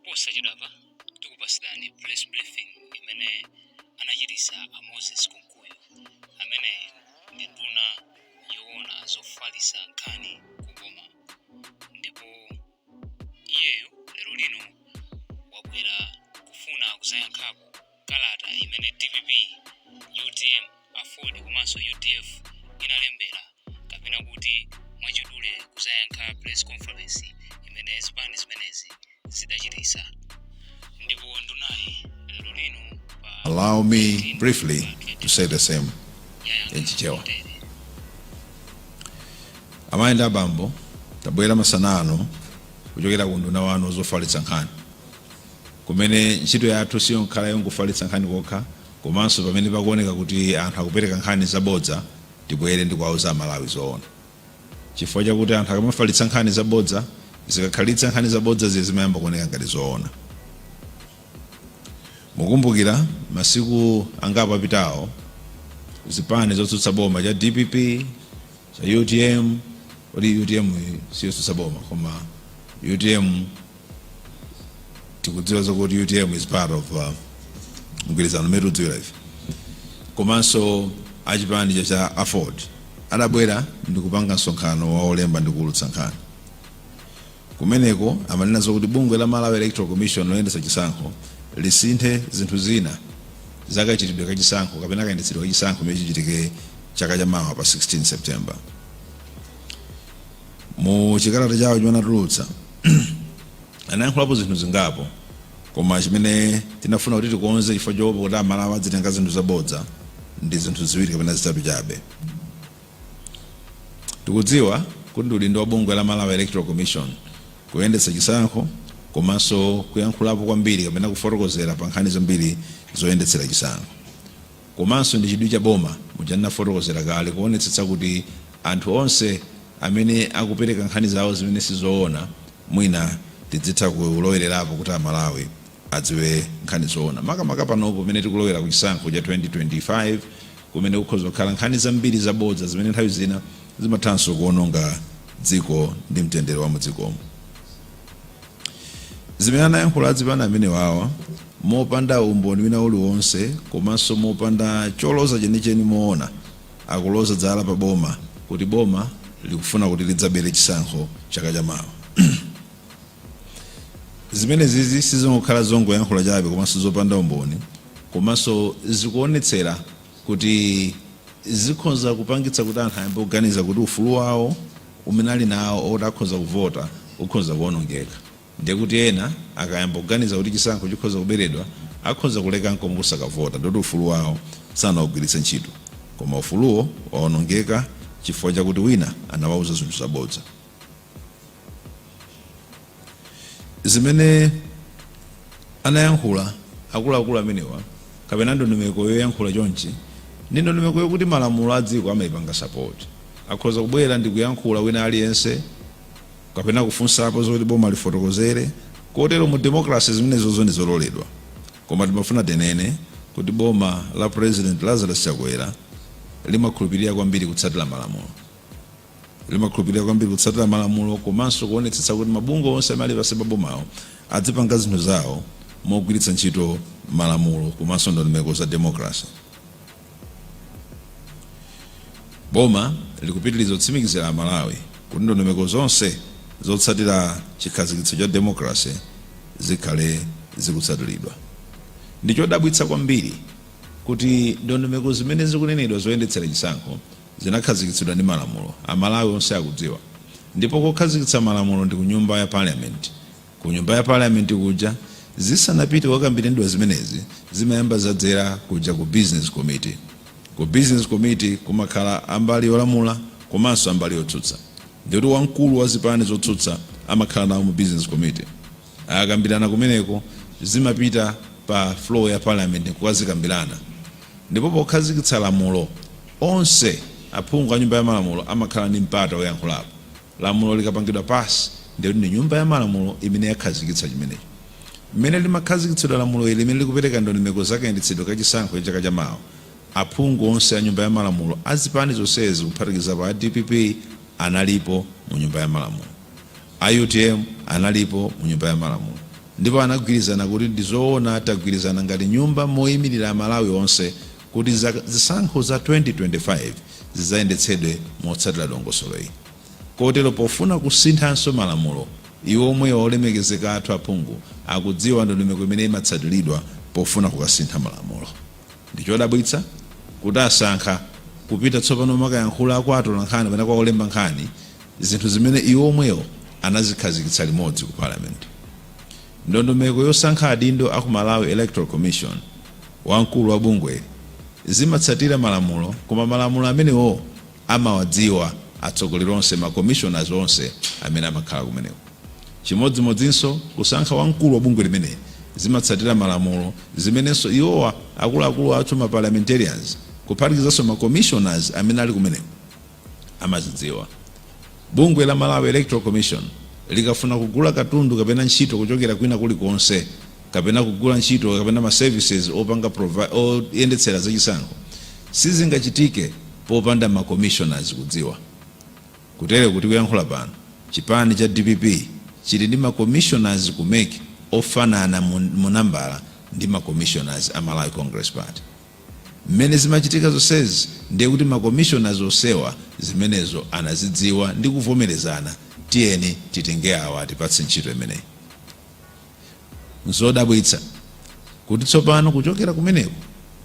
posachedwapa tikupatsirani press briefing imene anachititsa a moses kunkuyu amene ndi nduna yoona zofalisa nkhani kuboma ndipo iyeyo lero lino wabwera kufuna kuzayankhapo kalata imene dpp, utm, aford komanso udf inalembera kapena kuti mwachidule kuzayankha press conference imene zipani zimenezi zidachititsa ndipo ndunayi lero lino Allow me briefly to say the same in Chichewa. amayi ndi abambo tabwera masana ano kuchokera ku unduna wanu zofalitsa nkhani kumene ntchito yathu siyokhala yongofalitsa nkhani kokha komanso pamene pakuoneka kuti anthu akupereka nkhani zabodza tibwere ndikuwauza amalawi zoona chifukwa chakuti anthu akamafalitsa nkhani zabodza zikakhalitsa nkhani zabodzazi zimayamba kuoneka ngati zoona mukumbukira masiku angapo apitawo zipani zotsutsa boma cha dpp cha utm kodi utm siyotsutsa boma koma utm tikudziwa zokuti utm is part of uh, mgwirizano umene tikudziwira ife komanso achipani cha cha aford adabwera ndikupanga msonkhano wa olemba ndikuwulutsa nkhani kumeneko amanena zokuti bungwe la malawi electoral commission loyendetsa chisankho lisinthe zinthu zina zakachitidwe ka chisankho kapena kayendetsedwe ka chisankho chimene chichitike chaka chamawa pa 16 september Mu chikalata chawo chimene anatulutsa, anayankhulapo zinthu zingapo koma chimene tinafuna kuti tikonze chifukwa choopa kuti Amalawi adzitenga zinthu zabodza ndi zinthu ziwiri kapena zitatu chabe. Tikudziwa kuti ndi udindo wa bungwe la Malawi Electoral Commission kuyendetsa chisankho komanso kuyankhulapo kwambiri kapena kufotokozera pa nkhani zambiri zoyendetsera chisankho. komanso ndi chidwi cha boma, muja ndinafotokozera kale, kuonetsetsa kuti anthu onse amene akupereka nkhani zawo zimene si zoona mwina tidzitha kulowererapo kuti Amalawi adziwe nkhani zoona. Makamaka panopo pamene tikulowera ku chisankho cha 2025 kumene kukhoza kukhala nkhani zambiri zabodza zimene nthawi zina zimathanso kuononga dziko ndi mtendere wa mu dzikomu. Zimene anayankhula azipani amenewawa mopanda umboni wina uliwonse komanso mopanda choloza chenicheni monga akuloza zala pa boma kuti boma likufuna kuti lidzabere chisankho chaka cha mawa. Zimenezizi sizongokhala zongoyankhula chabe komanso zopanda umboni komanso zikuonetsera kuti zikhoza kupangitsa kuti anthu ayambe kuganiza kuti ufulu wawo umene ali nawo oti akhoza kuvota ukhoza kuonongeka ndiye kuti ena akayamba kuganiza kuti chisankho chikhoza kuberedwa akhoza kuleka nkomwe kusakavota ndikuti ufulu wawo sanaugwiritse ntchito koma ufuluwo waonongeka chifukwa chakuti wina anawauza zinthu zabodza. Zimene anayankhula akuluakulu amenewa kapena ndondomeko yoyankhula chonchi ndi ndondomeko yokuti malamulo a dziko amayipanga support. Akhoza kubwera ndi kuyankhula wina aliyense kapena kufunsapo zoti boma lifotokozere kotero mu democracy zimenezozo ndi zololedwa koma timafuna tinene kuti boma la President Lazarus Chakwera limakhulupirira kwambiri kutsatira malamulo. Limakhulupirira kwambiri kutsatira malamulo komanso kuonetsetsa kuti mabungwe onse amene ali pansi pa bomawo adzipanga zinthu zawo mogwiritsa ntchito malamulo komanso ndondomeko za democracy. Boma likupitiriza kutsimikizira Amalawi kuti ndondomeko zonse zotsatira chikhazikitso cha democracy zikhale zikutsatiridwa. Ndi chodabwitsa kwambiri kuti ndondomeko zimene zikunenedwa zoyendetsera chisankho Zinakhazikitsidwa ndi malamulo. Amalawi onse akudziwa. Ndipo kokhazikitsa malamulo ndi ku Nyumba ya Parliament. Ku Nyumba ya Parliament kuja, zisanapite kukakambiranidwa zimenezi, zimayamba zadzera kuja ku Business Committee. Ku Business Committee kumakhala a mbali yolamula komanso a mbali yotsutsa. Ndikuti wamkulu wa zipani zotsutsa amakhala nawo mu Business Committee. Akakambirana kumeneko, zimapita pa floor ya Parliament nkukazikambirana, ndipo pokhazikitsa lamulo, onse aphungu a Nyumba ya Malamulo amakhala ndi mpata woyankhulapo. Lamulo likapangidwa pass, ndiye kuti ndi Nyumba ya Malamulo imene yakhazikitsa chimenecho. Mmene limakhazikitsidwa lamulo ili, limene likupereka ndondomeko za kayendetsedwe ka chisankho cha chaka chamawa, aphungu onse a Nyumba ya Malamulo a zipani zonsezi, kuphatikizapo a dpp, analipo mu Nyumba ya Malamulo. A utm analipo mu nyumba ya malamulo ndipo anagwirizana kuti ndi zoona tagwirizana ngati nyumba moyimilira amalawi onse kuti zisankho za 2025 zidzayendetsedwe motsatira dongosolo ili kotero pofuna kusinthanso malamulo iwo omwewo olemekezeka athu aphungu akudziwa ndondomeko imene imatsatilidwa pofuna kukasintha malamulo ndi chodabwitsa kuti asankha kupita tsopano kumakayankhula kwa atolankhani kapena kwa olemba nkhani zinthu zimene iwo omwewo anazikhazikitsa limodzi ku Parliament. Ndondomeko yosankha adindo aku Malawi Electoral Commission, wamkulu wa bungweli, zimatsatira malamulo koma malamulo amenewowo amawadziwa atsogoleri onse, ma commissioners onse amene amakhala kumeneko. Chimodzimodzinso kusankha wamkulu wa bungwe limeneli zimatsatira malamulo zimenenso iwowa akuluakulu athu ma parliamentarians kuphatikizanso ma commissioners amene ali kumeneko. amazidziwa. Bungwe la Malawi Electoral Commission likafuna kugula katundu kapena ntchito kuchokera kwina kuli konse kapena kugula ntchito kapena ma services opanga provi- oyendetsera zachisankho sizingachitike popanda ma commissioners kudziwa. Kutere kuti kuyankhula pano chipani cha dpp chili ndi ma commissioners ku mec ofanana mu, mu nambala ndi ma commissioners a Malawi Congress Party. Mmene zimachitika zonsezi ndiye kuti ma commissioners onsewa zimenezo anazidziwa ndi kuvomerezana tiyeni titenge awa atipatse ntchito imeneyi. Nzodabwitsa kuti tsopano kuchokera kumeneko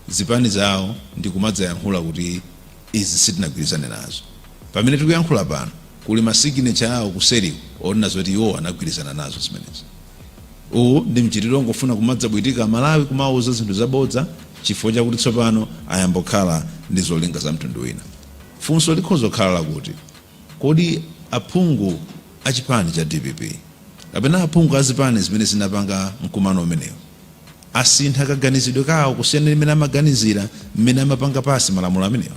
zipani zawo ndi kumadzayankhula kuti izi sitinagwirizane nazo. Pamene tikuyankhula pano kuli ma signature awo kuseriku onena zoti iwowo anagwirizana nazo zimenezi. Uwu ndi mchitidwe ongofuna kumadzabwatika amalawi kumawauza zinthu zabodza chifukwa chakuti tsopano ayamba kukhala ndi zolinga za mtundu wina. Funso likhoza kukhala lakuti kodi aphungu a chipani cha dpp kapena aphungu a zipani zimene zinapanga mkumano umenewu asintha kaganizidwe kawo kusiyana ndi mmene amaganizira mmene amapanga pass malamulo amenewa?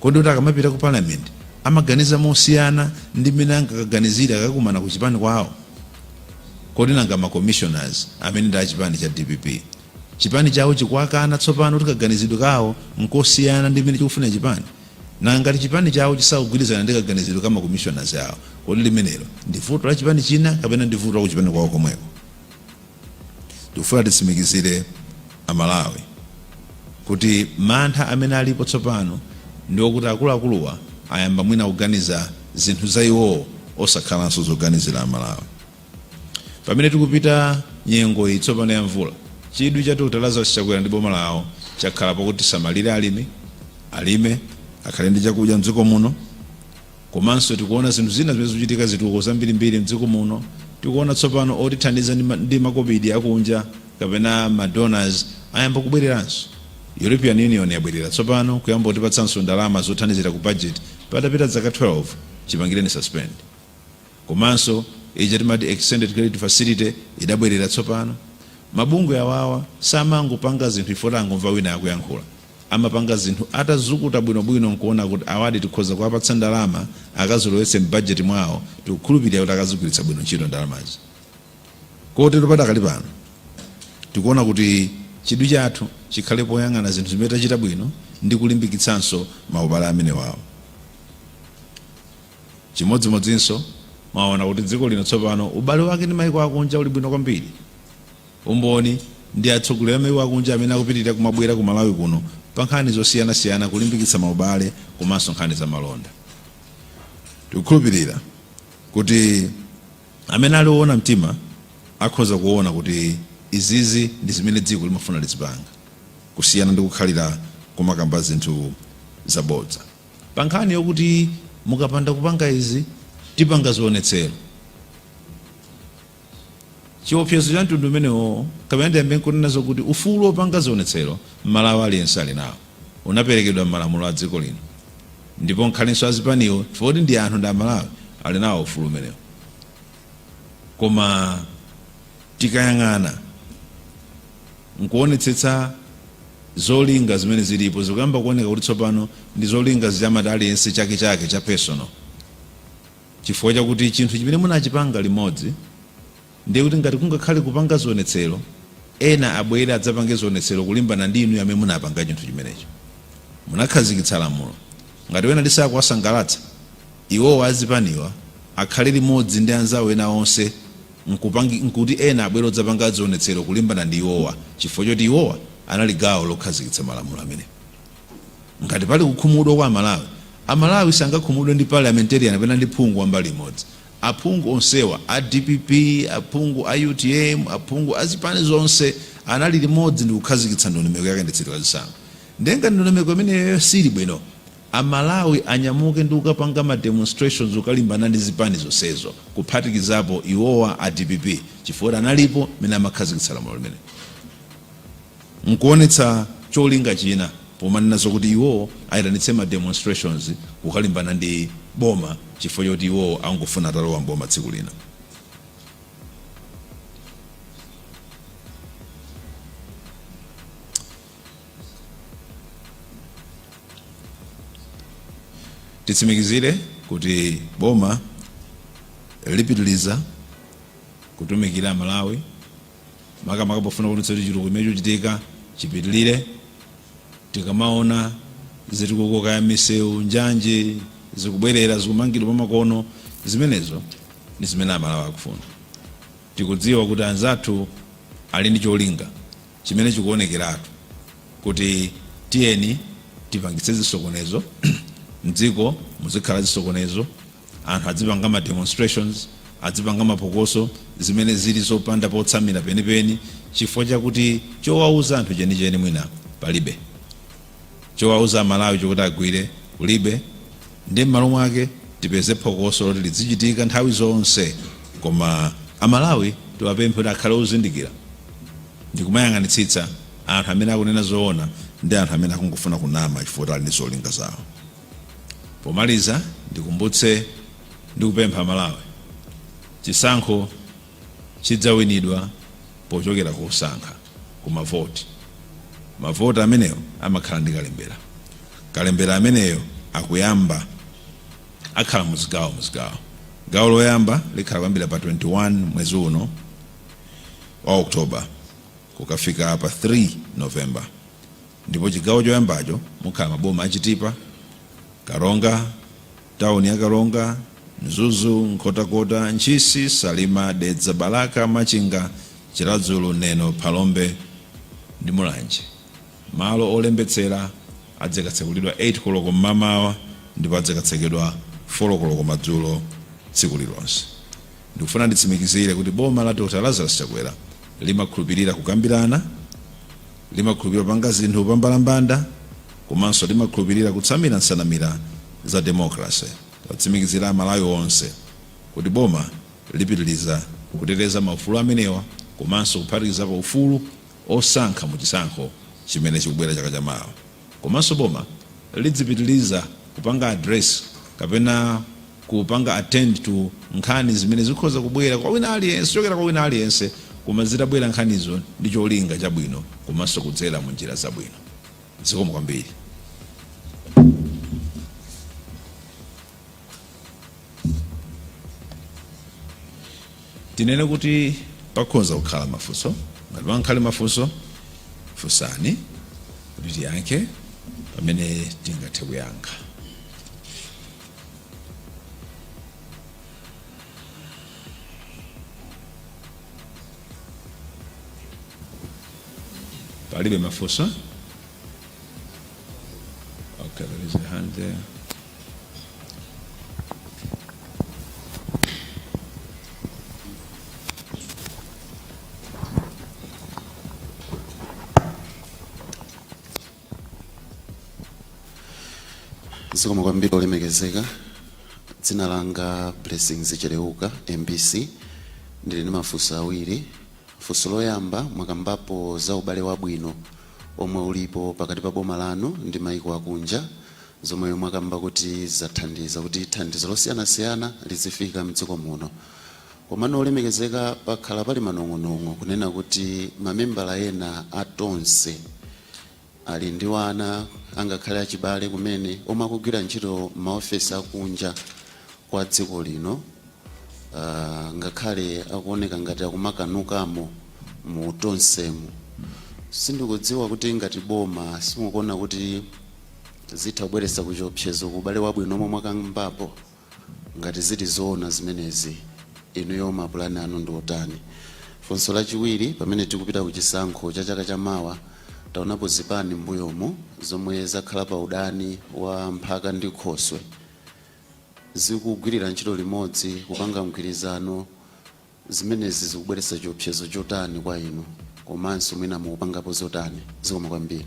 kodi kuti akamapita ku parliament amaganiza mosiyana ndi mmene angakaganizire akakumana ku chipani kwawo kodi nanga ma commissioners amene ndi achipani cha dpp chipani chawo chikuwakana tsopano kuti kaganizidwe kawo nkosiyana ndi mmene chikufuna chipani nanga ngati chipani chawo chisakugwirizana ndi kaganizidwe ka ma commissioners awo kodi limenelo ndi vuto la chipani china kapena ndi vuto la ku chipani kwawo komweko Tikufuna titsimikizire a Malawi kuti mantha amene alipo tsopano ndi okuti akuluakuluwa ayamba mwina kuganiza zinthu za iwowo osakhalanso zoganizira a Malawi. Pamene tikupita nyengo iyi tsopano ya mvula, chidwi cha Dr. Lazarus Chakwera ndi boma lawo chakhala pakuti tisamalire alimi, alime, akhale ndi chakudya m'dziko muno, Komanso tikuona zinthu zina zimene zikuchitika zitukuko zambirimbiri mdziko muno tikuona tsopano otithandiza ndi ndi makobidi akunja kapena ma donors ayamba kubwereranso European Union yabwerera tsopano kuyamba kutipatsanso ndalama zothandizira ku budget patapita zaka 12 chipangireni suspend komanso ija timati extended credit facility idabwerera tsopano mabungwe awawa samangopanga zinthu chifukwa tangomva wina akuyankhula Amapanga zinthu atazukuta bwino bwino nkuona kut awadi tikhoza kuwapatsa ndalama akazilowetse m'bajeti mwawo, tikukhulupilira kuti akazigwiritsa bwino ntchito ndalamazi kotero padakali pano tikuona kuti chidwi chathu chikhale poyang'ana zinthu zimene tachita bwino ndi kulimbikitsanso maubale amenewawo chimodzimodzinso. Mwaona kuti dziko lino tsopano ubale wake ndi maiko akunja uli bwino kwambiri. Umboni ndi atsogoleri a maiko akunja amene akupitilira kumabwera ku Malawi kuno pa nkhani zosiyana siyana kulimbikitsa maubale komanso nkhani za malonda. Tikukhulupilira kuti amene ali owona mtima akhoza kuwona kuti izizi ndi zimene dziko limafuna lizipanga kusiyana ndi kukhalira kumakamba zinthu zabodza. Pa nkhani yokuti mukapanda kupanga izi tipanga zionetsero. Chiopsezo cha mtundu umenewo kapena tiyambe n'kunena zokuti ufulu wopanga zionetsero m'Malawi aliyense ali nawo, unaperekedwa m'malamulo a dziko lino ndipo ngakhalenso a zipaniwo chifukwa kuti ndi anthu ndi Amalawi ali nawo ufulu umenewo. Koma tikayang'ana n'kuonetsetsa zolinga zimene zilipo zikuyamba kuoneka kuti tsopano ndi zolinga zija amati aliyense chake chake cha personal. Chifukwa chakuti chinthu chimene munachipanga limodzi, ndiye kuti ngati kungakhale kupanga zionetsero, ena abwere adzapange zionetsero kulimbana ndi inuyo amene munapanga chinthu chimenecho. Munakhazikitsa lamulo. Ngati ena lisakuwasangalatsa, iwowa azipaniwa akhale limodzi ndi anzawo ena onse nkuti ena abwere adzapange zionetsero kulimbana ndi iwowa chifukwa choti iwowa anali gawo lokhazikitsa malamulo amenewo. Ngati pali kukhumudwa kwa Amalawi, Amalawi sangakhumudwe ndi parliamentarian kapena ndi phungu wa mbali imodzi. Aphungu onsewa, a dpp, aphungu a utm, aphungu a zipani zonse anali limodzi ndikukhazikitsa ndondomeko ya kayendetsedwe ka zisankho. Ndiye ngati ndondomeko imeneyoyo siili bwino, Amalawi anyamuke ndi kukapanga ma demonstrations kukalimbana ndi zipani zonsezo kuphatikizapo iwowa a dpp chifukwa analipo m'mene amakhazikitsa lamulo limenelo. nkuonetsa cholinga china pomanena zokuti iwowo ayitanitse ma demonstrations kukalimbana ndi boma chifukwa choti iwowo akungofuna atalowa m'boma tsiku lina. Titsimikizire kuti boma lipitiliza kutumikira Amalawi. makamaka pofuna kuonetsa kuti chitukuko chimene chikuchitika chipitilire. Tikamaona zitukuko kaya misewu, njanji zikubwerera zikumangidwa mwamakono, zimenezo ndi zimene Amalawi akufuna. Tikudziwa kuti anzathu ali ndi cholinga chimene chikuonekeratu. kuti tiyeni tipangitse zisokonezo mdziko muzikhala zisokonezo anthu adzipanga ma demonstrations adzipanga mapokoso zimene zili zopanda potsamira penipeni chifukwa chakuti chowauza anthu chenicheni mwina palibe chowauza amalawi chokuti agwire kulibe Ndiye mmalo mwake tipeze phokoso loti lidzichitika nthawi zonse koma a Malawi tiwapemphe kuti akhale ozindikira ndikumayang'anitsitsa anthu amene akunena zoona ndi anthu amene akungofuna kunama chifukwa choti ali ndi zolinga zawo. Pomaliza ndikumbutse ndi kupempha a Malawi chisankho. chidzawinidwa pochokera kusankha ku mavoti. Mavoti ameneyo amakhala ndi kalembera. Kalembera ameneyo akuyamba akhala muzigawo muzigawo. Gawo loyamba likhala kuyambira pa 21 mwezi uno wa October kukafika pa 3 November ndipo chigawo choyambacho mukhala maboma a Chitipa, Karonga, Town ya Karonga, Mzuzu, Nkhotakota, Ntchisi, Salima, Dedza, Balaka, Machinga, Chiradzulu, Neno, Phalombe ndi Mulanje malo olembetsera adzikatsekulidwa 8 koloko mmamawa ndipo adzikatsekedwa 4 koloko madzulo tsiku lilonse. Ndikufuna nditsimikizire kuti boma la Dr Lazarus Chakwera limakhulupirira kukambirana, Limakhulupirira kupanga zinthu pambalambanda komanso limakhulupirira kutsamira nsanamira za democracy. Titsimikizire Amalawi onse kuti boma lipitiliza kuteteza maufulu amenewa komanso kuphatikizapo ufulu osankha mu chisankho chimene chikubwera chaka cha mawa. Komanso boma lidzipitiliza kupanga address kapena kupanga attend to nkhani zimene zikhoza kubwera kwa wina aliyense, kuchokera kwa wina aliyense koma zitabwera nkhanizo ndi cholinga chabwino komanso kudzera mu njira zabwino. Zikomo kwambiri. tinene kuti pakhoza kukhala mafunso ngati pangakhale mafunso funsani kuti tiyankhe pamene tingathe kuyankha palibe mafunso Okay, there is a hand there. zikomo kwambiri olemekezeka dzina langa blessings cheleuka mbc ndili ndi mafunso awiri funso loyamba mwakambapo za ubale wabwino omwe ulipo pakati pa boma lanu ndi maiko akunja zomwe mwakamba kuti zathandiza kuti thandizo losiyanasiyana lizifika mdziko muno. Komano olemekezeka pakhala pali manong'onong'o kunena kuti mamembala ena a Tonse ali ndi wana angakhale achibale kumene omwe akugwira ntchito mmaofesi akunja kwa dziko lino. uh, ngakhale akuoneka ngati akumakanukamo mu Tonsemu sindikudziwa kuti ngati boma simukuona kuti zitha kubweretsa chiopsezo ku ubale wabwino omwe mwakambapo ngati zili zoona zimenezi inuyo mapulani anu ndi otani funso lachiwiri pamene tikupita ku chisankho cha chaka cha mawa taonapo zipani mbuyomu zomwe zakhala pa udani wa mphaka ndi khoswe zikugwirira ntchito limodzi kupanga mgwirizano, zimenezi zikubweretsa chiopsezo chotani kwa inu komanso mwina mukupangapo zotani? Zikomo kwambiri.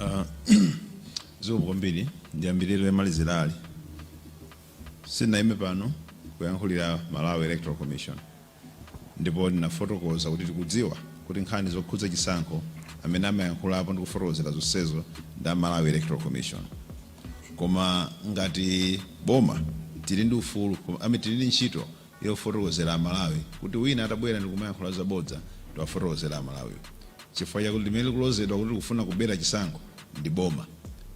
Ah, zikomo kwambiri ndiyambire lomalizirali sindinayime pano kuyankhulira malawi electoral commission ndipo ndinafotokoza kuti tikudziwa kuti nkhani zokhudza chisankho amene amayankhulapo ndi kufotokozera zonsezo ndi a malawi electoral commission koma ngati boma tili ndi ufulu ame tili ndi ntchito yofotokozera amalawi kuti wina atabwera ndikumayankhula zabodza tiwafotokozere amalawiwo chifukwa chakuti limene likulozedwa kuti likufuna kubera chisankho ndi boma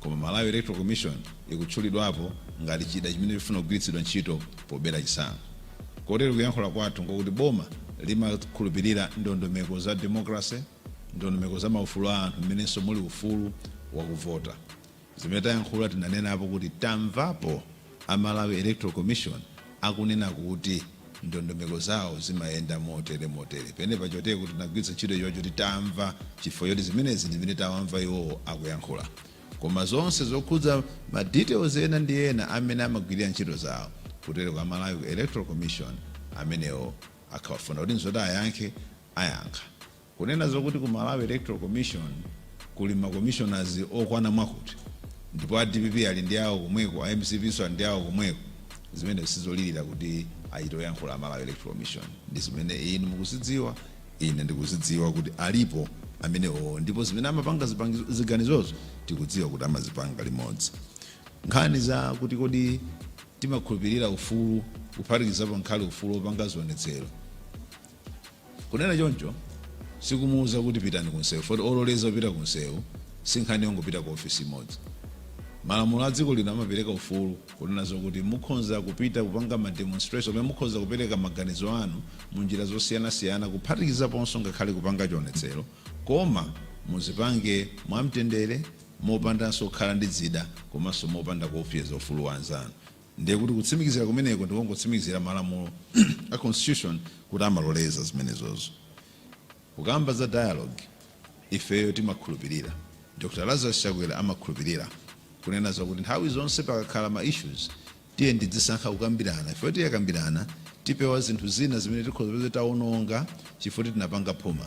koma Malawi Electoral Commission ikutchulidwapo ngati chida chimene chikufuna kugwiritsidwa ntchito pobera chisankho kotero kuyankhula kwathu nkokuti boma limakhulupirira ndondomeko za democracy, ndondomeko za maufulu a anthu mmenenso muli ufulu wakuvota. Zimene tayankhula tinanenapo kuti tamvapo a Malawi Electoral Commission akunena kuti ndondomeko zawo zimayenda motere motere. Penapa n'chifukwa tinagwiritsa ntchito chiwu choti tamva chifukwa choti zimenezi ndizimene tawamva iwowo akuyankhula. Koma zonse zokhudza ma details ena ndi ena a mmene amagwilira ntchito zawo kutereko a Malawi Electoral Commission amenewo atawafunsa kuti nzoti ayankhe ayankha. Kunena zokuti ku Malawi Electoral Commission kuli ma commissioners okwana mwakuti ndipo a dpp ali ndi awo komweko a mcp nso ali ndi awo komweko zimenezo sizolira kuti achite kuyankhula a Malawi Electoral Commission ndi zimene inu mukuzidziwa ine ndikuzidziwa kuti alipo amenewo ndipo zimene amapanga ziganizozo tikudziwa kuti amazipanga limodzi nkhani za kuti kodi timakhulupirira ufulu kuphatikizapo ngakhale ufulu wopanga zionetsero kunena choncho sikumuuza kuti pitani kunsewu foti ololeza kupita kunsewu sinkhani yongopita ku ofisi imodzi malamulo a dziko lino amapereka ufulu kunena zokuti mukhonza kupita kupanga ma demonstration pamene mukhonza kupereka maganizo anu mu njira zosiyanasiyana kuphatikizaponso ngakhale kupanga chionetsero koma muzipange mwamtendere mopandanso kukhala ndi zida komanso mopanda kuopseza ufulu wa anzanu Ndiye kuti kutsimikizira kumeneko ndikungotsimikizira malamulo a constitution kuti amaloleza zimenezozo. Kukamba za dialogue, ifeyo timakhulupirira, Dr Lazarus Chakwera amakhulupirira, kunena zakuti nthawi zonse pakakhala ma issues tiyeni tidzisankha kukambirana chifukwa tikakambirana tipewa zinthu zina zimene tikhoza kuti taononga chifukwa choti tinapanga phuma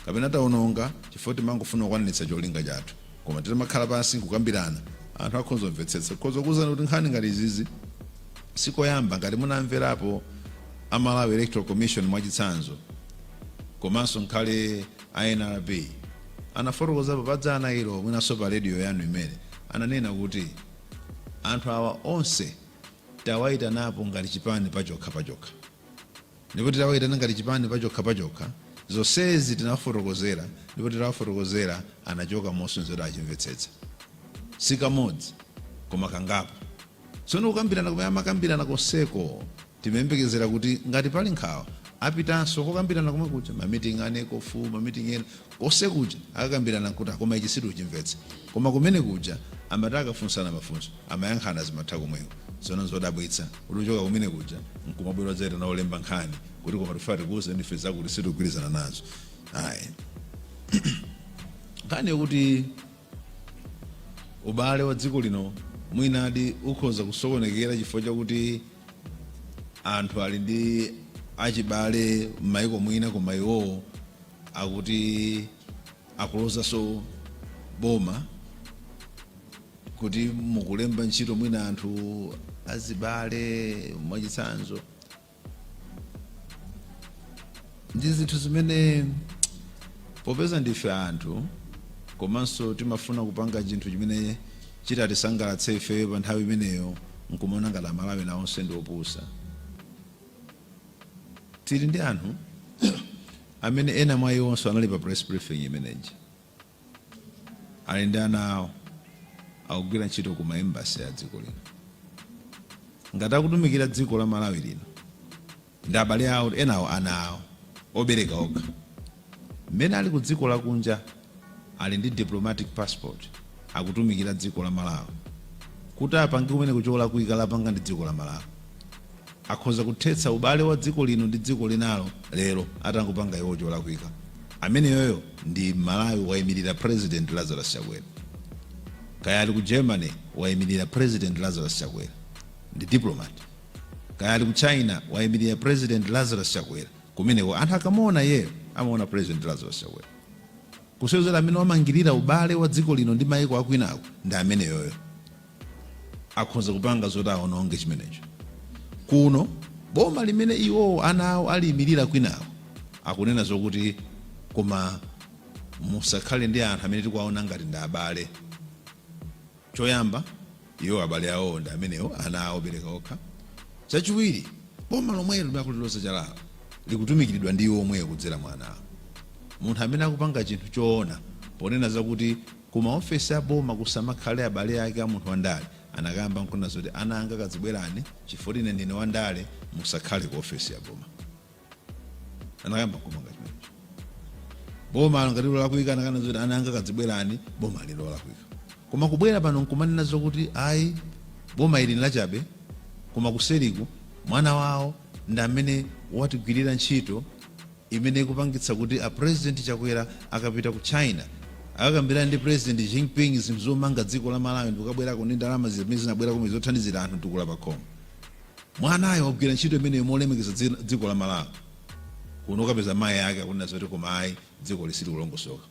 kapena taononga chifukwa choti timangofuna kukwaniritsa cholinga chathu. Koma titamakhala pansi nkukambirana, anthu akhonza kumvetsetsa. Tikhoza kukuuzani kuti nkhani ngati izizi si koyamba. Ngati munamverapo a Malawi Electoral Commission mwachitsanzo, komanso ngakhale a nrb anafotokozapo pa dzana ilo mwinanso pa radio yanu imene, ananena kuti anthu awa onse tawaitanapo ngati chipani pachokha pachokha. Ndipo titawayitana ngati chipani pachokha pachokha, zonsezi tinawafotokozera ndipo titawafotokozera anachoka mosonyeza kuti achimvetsetsa. Si kamodzi koma kangapo. Tsono kukambirana kumene amakambirana konseko timayembekezera kuti ngati pali nkhawa apitanso kokambirana komwe kuja, ma meeting a NECOFU, ma meeting ena, Konse kuja akakambirana kuti koma ichi sitikuchimvetsa koma kumene kuja amati akafunsana mafunso amayankhana zimatha komweko tsono nzodabwitsa kuti kuchoka kumene kuja nkumabwera kudzaitana olemba nkhani kuti koma tikufuna tikuuzeni ife zakuti sitikugwirizana nazo ayi nkhani yokuti ubale wa dziko lino mwinadi ukhoza kusokonekera chifukwa chakuti anthu ali ndi achibale m'maiko mwina koma iwowo akuti akulozanso boma kuti mukulemba ntchito mwina anthu azibale mwachitsanzo ndi zinthu zimene popeza ndife anthu komanso timafuna kupanga chinthu chimene chitatisangalatse ifeyo pa nthawi imeneyo nkumaona ngati amalawi ena onse ndi opusa Tili ndi anthu amene ena mwa iwonso anali pa press briefing imene ija. Ali ndi ana awo, akugwira ntchito ku ma embassy a dziko lino. Ngati akutumikira dziko la Malawi lino, ndi abale awo, enawo ana awo, obereka okha. Mmene ali ku dziko lakunja Ali ndi diplomatic passport akutumikira dziko la Malawi kuti apange kumeneko cholakwika lapanga ndi dziko la Malawi. Akhoza kuthetsa ubale wa dziko lino ndi dziko linalo lero atangopanga iwowo cholakwika. Ameneyoyo ndi Mmalawi waimirira president Lazarus Chakwera. Kaya ali ku Germany waimirira president Lazarus Chakwera ndi diplomat. Kaya ali ku China waimirira president Lazarus Chakwera kumeneko anthu akamuona iyeyo amaona president Lazarus Chakwera. Kusonyeza kuti amene wamangirira ubale wa dziko lino ndi maiko akwinako ndi ameneyoyo. Akhonza kupanga zoti aononge chimenecho. Kuno, boma limene iwowo ana awo aliimirira kwinako, akunena zokuti koma musakhale ndi anthu amene tikuwaona ngati ndi abale. Choyamba, iwo abale awowo ndi amenewo, ana awo obereka okha. Chachiwiri, boma lomwelo limene akuliloza chalalo likutumikiridwa ndi iwo omweyo kudzera mwa ana awo. Munthu amene akupanga chinthu choona ponena zakuti ku maofesi a boma kusamakhale abale ake a munthu wandale anakayamba n'kunena zoti, Ana anga kazibwerani chifukwa ine ndine wandale, musakhale ku ofesi ya boma. anakayamba kumanga chimenecho boma ngati lolakwika ananena zoti ana anga kazibwerani boma ili lolakwika koma kubwera pano nkumanena zokuti ayi boma ili nlachabe koma kuseriku mwana wawo ndi amene watigwirira ntchito imene ikupangitsa kuti a president chakwera akapita ku china akakambirane ndi president Xi Jinping zinthu zomanga dziko la malawi ndikubwerako ndi ndalama zimene zinabwerako zothandizira anthu tukula pakhomo Mwanayo wagwira ntchito imeneyo yolemekeza dziko la Malawi kuno ukapeza mayi ake akunena zoti koma ayi dzikoli silikulongosoka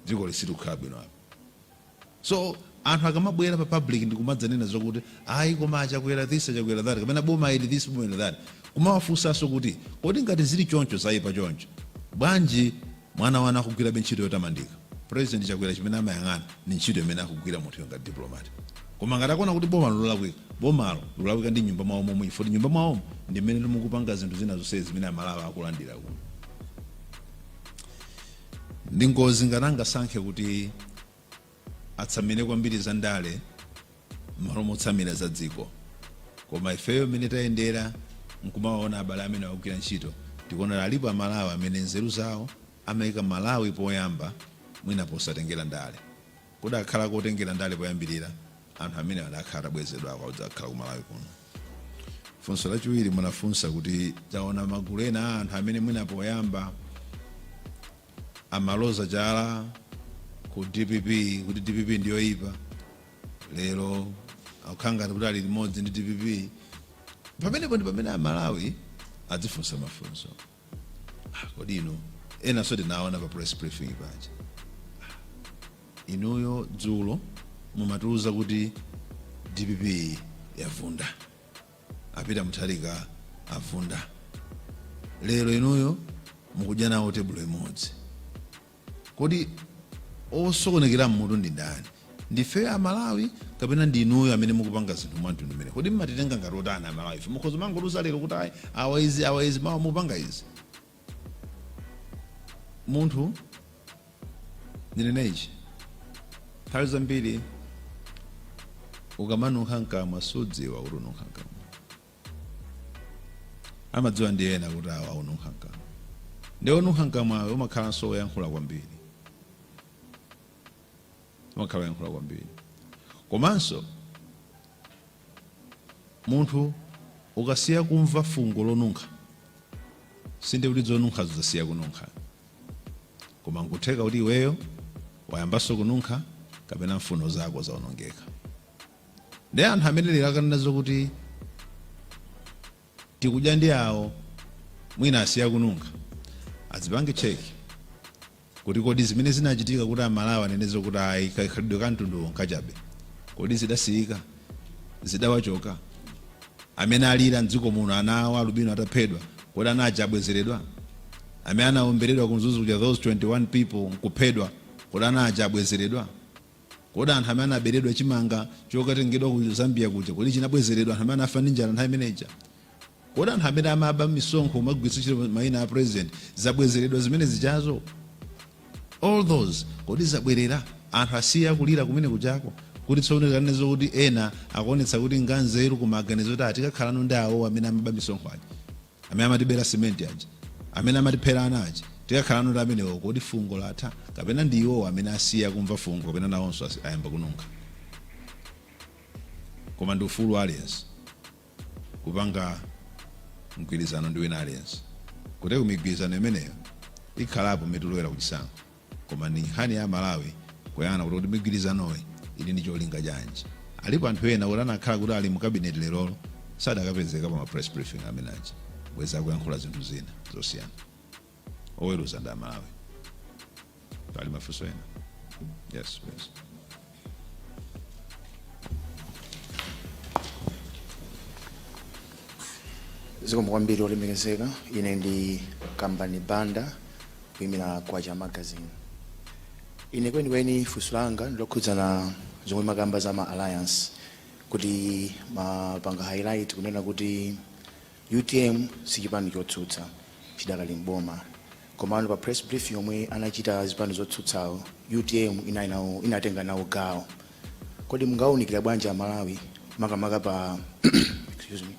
dzikoli silikukhala bwino apa so anthu akamabwera pa public ndikumadzanena zokuti ayi koma achakwera this achakwera that kapena boma ili this boma ili that kumawafunsanso kuti kodi ngati zili choncho zaipa choncho bwanji Mwana wanu akugwirabe ntchito yotamandika. President Chakwera chimene amayang'ana ndi ntchito imene akugwira munthuyo ngati diplomat. Koma ngati akuona kuti bomalo lolakwika, bomalo likulakwika ndi m'nyumba mwawo momwe chifukwa choti m'nyumba mwawomo ndi m'menenso mukupanga zinthu zina zonsezi zimene Amalawi akulandira kuno. Ndi ngozi ngati angasankhe kuti atsamire kwambiri za ndale mmalo motsamira za dziko koma ifeyo mmene tayendera nkumawaona abale amene akugwira ntchito tikuona alipo amalawi amene nzeru zawo amaika malawi poyamba mwina posatengera ndale kudakhala kotengera ndale poyambirira anthu amenewa adakhala atabwezedwa kudzakhala ku malawi kuno funso lachiwiri munafunsa kuti taona magulu ena a anthu amene mwina poyamba amaloza chala ku dpp kuti dpp ndiyoyipa lero akukhala ngati kuti ali limodzi ndi dpp pamenepo ndi pamene amalawi adzifunsa mafunso Ah, kodi inu enanso tinaona pa press briefing paja inuyo dzulo mumatiuza kuti dpp yavunda A Peter Mutharika avunda. Lero inuyo mukudya nawo tebulo imodzi. Kodi osokonekera m'mutu ndi ndani? Ndifeyo a Malawi kapena ndi inuyo amene mukupanga zinthu mwa mtundu umenewu? Kodi mumatitenga ngati otani a Malawife? Mukhoza kumangotiuza lero kuti ayi, awa izi, awa izi, mawa mupanga izi. munthu ndinene ichi nthawi zambiri ukamanunkha mkamwa sudziwa kuti ununkha mkamwa amadziwa ndi ena kuti awa akununkha mkamwa ndi onunkha mkamwayo umakhalanso woyankhula kwambiri umakhala woyankhula kwambiri komanso Munthu ukasiya kumva fungo lonunkha, sindiye kuti zonunkhazo zasiya kununkha. Koma nkutheka kuti iweyo wayambanso kununkha kapena mfuno zako zaonongeka. Ndiye anthu amene lero akanena zokuti. tikudya ndi awo mwina asiya kununkha azipange check kuti kodi zimene zinachitika kuti amalawi anene zokuti ayi kakhalidwe ka mtunduwu nkachabe kodi zidasiyika zidawachoka amene alira mdziko muno ana awo alubino ataphedwa kodi ana aja abwezeredwa amene anaomberedwa kumzuzu kuja those 21 people nkuphedwa kodi ana aja abwezeredwa Kodi anthu amene anaberedwa chimanga chokatengedwa ku Zambia kuja, kodi chinabwezeredwa anthu amene anafa ndi njala nthawi imene ija? Kodi anthu amene amaba misonkho kumagwiritsa ntchito maina a president zabwezeredwa zimene zijazo? All those kodi zabwerera? Anthu asiya kulira kumene kujako? Kuti tsono tikanene zokuti ena akuonetsa kuti nganzeru kumaganiza kuti ah tikakhalano ndi awowo amene amaba misonkho aja. amene amatibera cement aja amene amatiphera ana aja tikakhalano ndi amenewo kodi fungo latha kapena ndi iwowo amene asiya kumva fungo kapena nawonso asi- ayamba kununkha koma ndi ufulu wa aliyense kupanga mgwirizano ndi wina aliyense kuti migwirizano imeneyo ikhalapo mmene tikulowera kuchisankho Koma ndi nkhani ya a Malawi kuyang'ana kuti kodi migwirizanoyi ili ndi cholinga chanji. Alipo anthu ena oti anakhala kuti ali mu cabinet lerolo sadakapezeka pa ma press briefing amene aja bwezi akuyankhula zinthu zina zosiyana. Oweruza ndi a Malawi. Pali mafunso ena? Yes please. zikomo kwambiri olemekezeka ine ndi kambani banda kuyimira Kwacha magazine ine kwenikweni funso langa ndilokhudzana zomwe mumakamba za ma alliance kuti munapanga highlight kunena kuti Utm sichipani chotsutsa chidakali m'boma komano pa press brief yomwe anachita azipani zotsutsawo utm inatenga nawo gawo kodi mungawunikira bwanji amalawi makamaka pa excuse me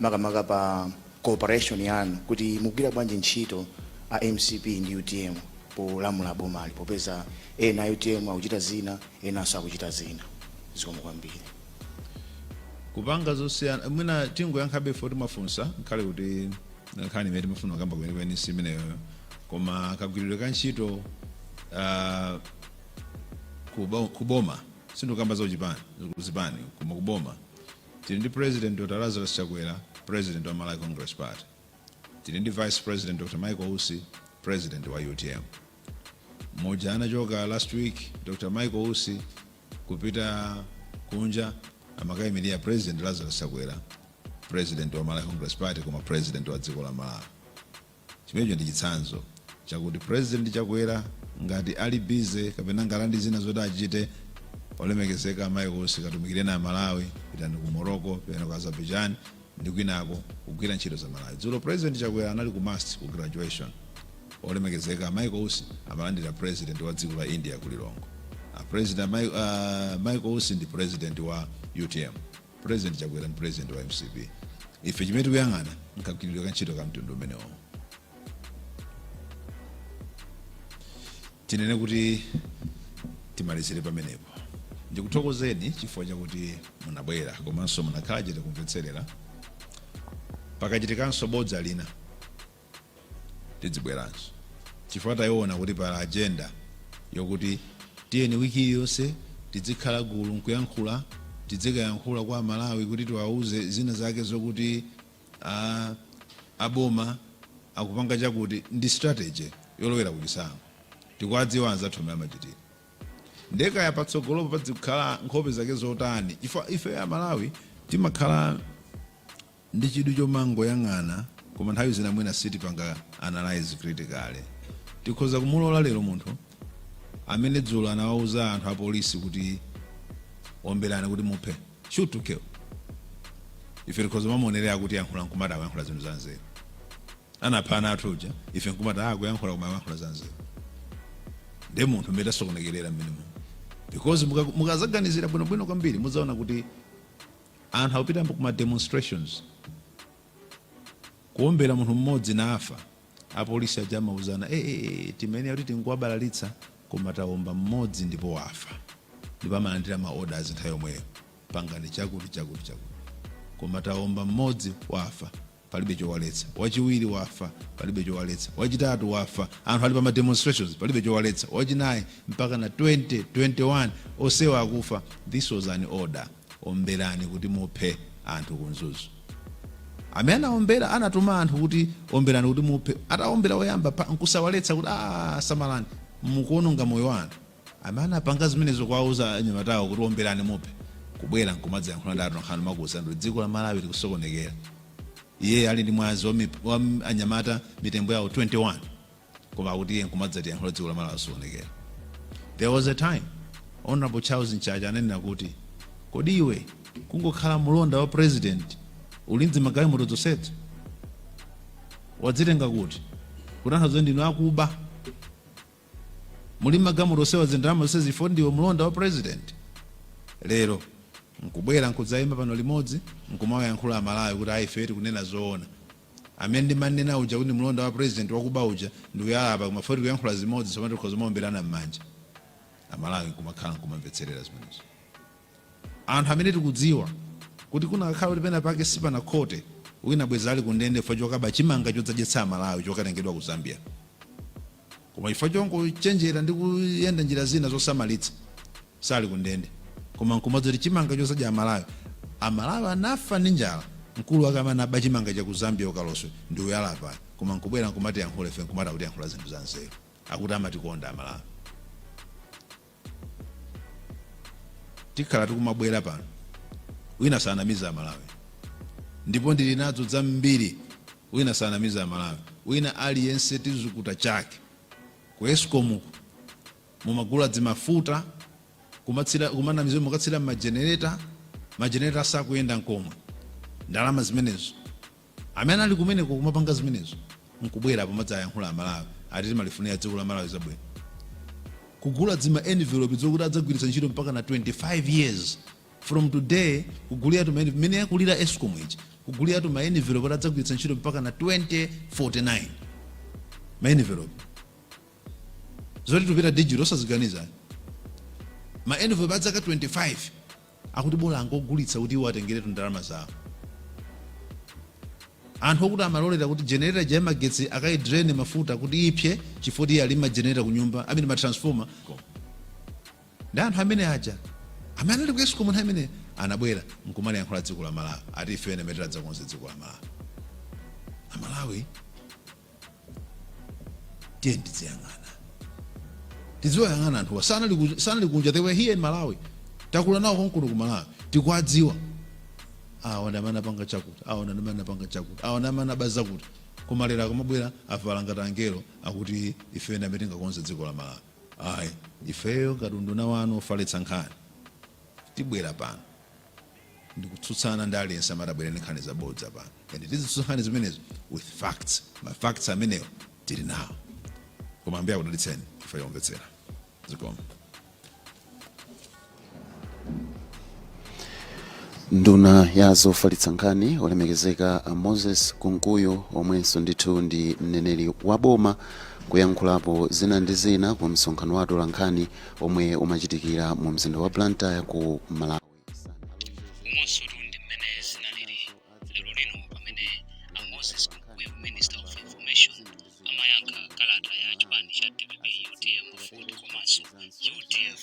makamaka pa cooperation yanu kuti mugwira bwanji ntchito a mcp ndi utm polamula bomali popeza ena a utm akuchita zina enanso akuchita zina zikomo kwambiri kupanga zosiyana mwina tingoyankhabe poti mwafunsa nkhale kuti nkhani imene timafuna kukamba kwenikweni si imeneyoyo koma kagwiridwe ka ntchito ah, kubo- kuboma sindikukamba za zipani koma kuboma tili ndi president dr lazarus chakwera president wa malawi congress party tili ndi vice president dr michael usi president wa utm momwe anachoka last week dr michael usi kupita kunja amakayimilira president Lazarus Chakwera president wa Malawi Congress Party koma president wa dziko la Malawi chimenecho ndi chitsanzo chakuti president Chakwera ngati ali busy kapena ngati ali ndi zina zoti achite olemekezeka a Michael Usi katumikireni a Malawi pitani ku Morocco pitani ku Azerbaijan ndi kwinako kugwira ntchito za Malawi. Dzulo President Chakwera anali ku MUST ku graduation. Olemekezeka a Michael Usi amalandira President wa dziko la India ku Lilongwe. A President a Mai- a Michael Usi ndi President wa UTM. President Chakwera ndi President wa MCP. Ife chimene tikuyang'ana nkagwiridwe ka ntchito ka mtundu umenewo. Tinene kuti timalizire pamenepo. Ndikuthokozeni chifukwa chakuti munabwera komanso munakhala chete kumvetserera. Pakachitikanso bodza lina, tidzibweranso chifukwa taiona kuti pali agenda yokuti tiyeni wiki iliyonse tidzikhala gulu nkuyankhula, tidzikayankhula kwa Amalawi kuti tiwauze zina zake zokuti. Aaa a boma akupanga chakuti ndi strategy yolowera kuchisankho tikuwadziwa anzathu m'mene amachitira nde kaya patsogolopo padzikhala nkhope zake zotani chifukwa ifeyo a Malawi timakhala ndi chidwi chomangoyang'ana koma nthawi zina mwina sitipanga analyse critically tikhoza kumulola lero munthu amene dzulo anawauza anthu a polisi kuti omberani kuti muphe shoot to kill ife tikhoza mamuonerera akutiyankhula nkumati akuyankhula zinthu za nzeru anapha ana athu uja ife nkumati akuyankhula koma akuyankhula za nzeru nde munthu mmene tasokonekerera mmene mu because muka- mukazaganizira bwinobwino kwambiri mudzaona kuti anthu akupita ku ma demonstrations kuombera munthu mmodzi nafa Apolisi aja amauzana, eeh, timayenera kuti tingowabalalitsa koma tawomba mmodzi ndipo wafa. Ndipo amalandira ma orders nthawi yomweyo, pangani chakuti chakuti chakuti. Koma tawomba mmodzi, wafa, palibe chowaletsa. Wachiwiri wafa, palibe chowaletsa. Wachitatu wafa, anthu ali pa ma demonstrations, palibe chowaletsa. Wachinayi, mpakana 20, 21, onsewa akufa. This was an order. omberani kuti muphe anthu ku mzuzu amene anaombera anatuma anthu kuti omberani kuti muphe ataombera woyamba nkusawaletsa kuti "Ah, samalani mukuononga moyo wa anthu amene anapanga zimenezo kuwauza anyamatawo kuti omberani muphe kubwera nkumadzayankhula ndi atolankhani kumakuuzani kuti dziko la malawi likusokonekera iye ali ndi mwazi wa mip- wa m- anyamata mitembo yawo 21 koma akuti iye nkumadzatiyankhula dziko la Malawi lasokonekera. There was a time Hon. Charles Mchacha ananena kuti kodi iwe kungokhala mulonda wa president uli ndi magalimoto zonsezo wazitenga kuti kutanthauza ndinu akuba muli ndi magalimoto onsewa zindalama zonsezi for ndiwe mulonda wa president lero nkubwera nkudzaima pano limodzi nkumawayankhula amalawi kuti ayi ife tikunena zoona Amene ndimanena uja kuti ndi mlonda wa president wakuba uja ndi uyu apa koma fo tikuyankhula zimodzi tsopano tikhoza kumaomberana mmanja amalawi nkumakhala nkumamvetserera zimenezo anthu amene tikudziwa kuti kunakakhala kuti pena pake sipanakhote wina bwezi ali kundende chifukwa chokaba chimanga chodzadyetsa amalawi chokatengedwa ku zambia Koma chifukwa chongochenjera ndi kuyenda njira zina zosamalitsa, sali ku ndende. Koma nkumadziwa kuti chimanga chodzadya Amalawi, Amalawi anafa ndi njala, mkulu wake amene anaba chimanga cha ku Zambia ku Kaloswe ndi uyu ali apayu. Koma nkubwera nkumatiyankhula ife nkumati akutiyankhula zinthu za nzeru. Akuti amatikonda Amalawi. tikhala tikumabwera pano wina asanamize amalawi ndipo ndili nazo zambiri wina asanamize amalawi wina aliyense tizukuta chake ku escom mumagula dzimafuta kumanamiza mukatsira majenereta majenereta asakuyenda nkomwe ndalama zimenezo Amene ali kumeneko kumapanga zimenezo nkubwera apa kumadzayankhula amalawi ati timalifunira dziko la malawi zabwino. Kugula dzima enivilopi dzokuti adzagwiritsa ntchito mpaka na 25 years from today kugulira tuma eniv mmene yakulira escom ija kugulira tuma enivilopi oti adzagwiritsa ntchito mpaka na 2049 ma enivilopi zoti tupita digital osaziganiza ayi. ma enivilopi a zaka 25 Akuti bola angogulitsa kuti iwo atengeretu ndalama zawo. Anthu okuti amalolera kuti generator ija ya magetsi akayidrain mafuta kuti ipsye chifukwa kuti iye ali ma generator kunyumba, I mean ma transformer. Ndi anthu amene aja amene anali ku Escom nthawi imene anabwera nkumaliyankhula dziko la Malawi ati ifeyo ndi amene tidzakonze dziko la Malawi. A Malawi. tiyeni tidziyang'ana tiziwayang'ana anthuwa sanali ku- sanali kunja they were here in malawi takula nawo konkuno ku malawi tikuwadziwa awa ndi amene apanga chakuti awa ndi amene apanga chakuti awa ndi amene aba zakuti koma lero akamabwera avala ngati angelo akuti ifeyo ndi amene tingakonze dziko la malawi ayi ifeyo ngati unduna wanu ofalitsa nkhani tibwera pano ndikutsutsana ndi aliyense amene ati abwere ndi nkhani zabodza pano and tizitsutsa nkhani zimenezo with facts ma facts amenewo tili nawo koma ambuye akudalitseni potimvetsera zikomo nduna ya zofalitsa nkhani olemekezeka a moses kunkuyu omwenso ndithu ndi mneneri wa boma kuyankhulapo zina ndi zina ku msonkhano wa atolankhani omwe umachitikira mu mzinda wa blantyre ku malawi umo ndi mmene zinalili lero lino pamene a moses kunkuyu minister of information amayankha kalata ya chipani cha dpp utm aford komanso udf